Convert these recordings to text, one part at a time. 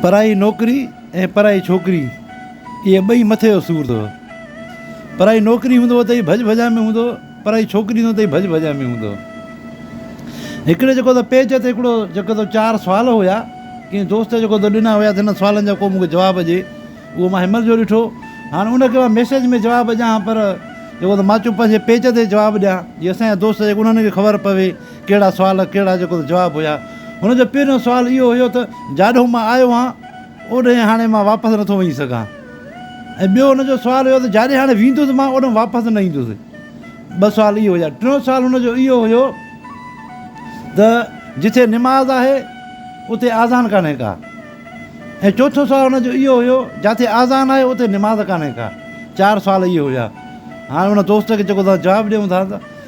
پرائي نوڪري ۽ پرائي ڇوڪري اهي ٻئي مٿي جو سور اٿو. پرائي نوڪري هوندو ته ئي ڀڄ ڀڄان ۾ هوندو، پرائي ڇوڪري هوندو ته ئي ڀڄ ڀڄان ۾ هوندو. هڪڙي جيڪو ته پيج تي هڪڙو جيڪو ته چار سوال هيا، ڪنهن دوست جيڪو ته ڏنا هيا ته هن سوالن جا ڪو مون کي جواب ڏي، اهو مان هيمل جو ڏٺو. هاڻ ان کي مان ميسيج ۾ جواب ڏيان پر جيڪو ته مان چيو پنهنجي پيج تي جواب ڏيان، جي اسان جا دوست جيڪو انهن کي خبر پوي. ڪهڙا سوال ڪهڙا جيڪو جواب هيا. هن جو پهريون سوال اهو هيو ته جاڏو مان آيو هان اوڏهين هاڻي مان واپس نٿو وڃي سگهان ۽ ٻيو هن جو سوال هيو ته جاڏي هاڻي ويندس مان اوڏهن واپس نه ايندس. ٻه سوال اهي هيا. ٽيون سوال هن جو اهو هيو ته جتي نماز آهي اتي آذان ڪانهي ڪا ۽ چوٿون سوال هن جو اهو هيو جاتي آذان آهي اتي نماز ڪانهي ڪا. چار سوال اهي هيا. هاڻي هن دوست کي جيڪو توهان جواب ڏيون ٿا ته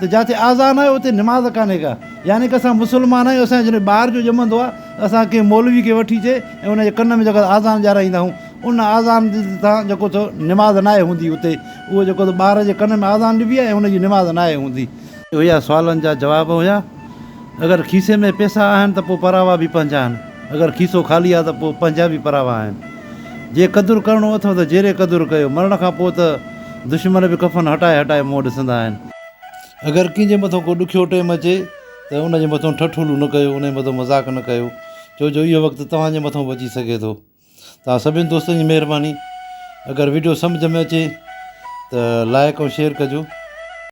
ته جاتي آذان آهي اتي نماز ڪانهي ڪا يعني ڪه اسان مسلمان آهيون اسان جڏهن ٻار جو ڄمندو آهي ته اسان ڪنهن مولوي کي وٺي اچي ۽ ان جي ڪن ۾ جيڪو آذان ڏيارائيندا آهيون ان آذان جي سان جيڪو ٿو نماز ناهي هوندي اتي اهو جيڪو ته ٻار جي ڪن ۾ آذان ڏبي آهي ۽ ان جي نماز ناهي هوندي. اهيا سوالن جا جواب هيا. اگر کيسي ۾ پيسا آهن ته پوء پراوا به پنهنجا آهن اگر کيسو خالي آهي ته پوء پنهنجا به پراوا آهن. جي قدر ڪرڻو اٿئو ته جيري قدر ڪيو، مرڻ کان پوء ته دشمن به ڪفن هٽائي هٽائي منهن ڏسندا آهن. اگر ڪنهن جي مٿئون ڪو ڏکيو ٽيم اچي ته ان جي مٿئون ٺٺولون نه ڪيو، انهي مٿئون مذاق نه ڪيو، ڇو جو اهو وقت توهان جي مٿئون به اچي سگهي ٿو. توهان سڀني دوستن جي مهرباني. اگر وڊيو سمجهه ۾ اچي ته لائيڪ ۽ شيئر ڪجو.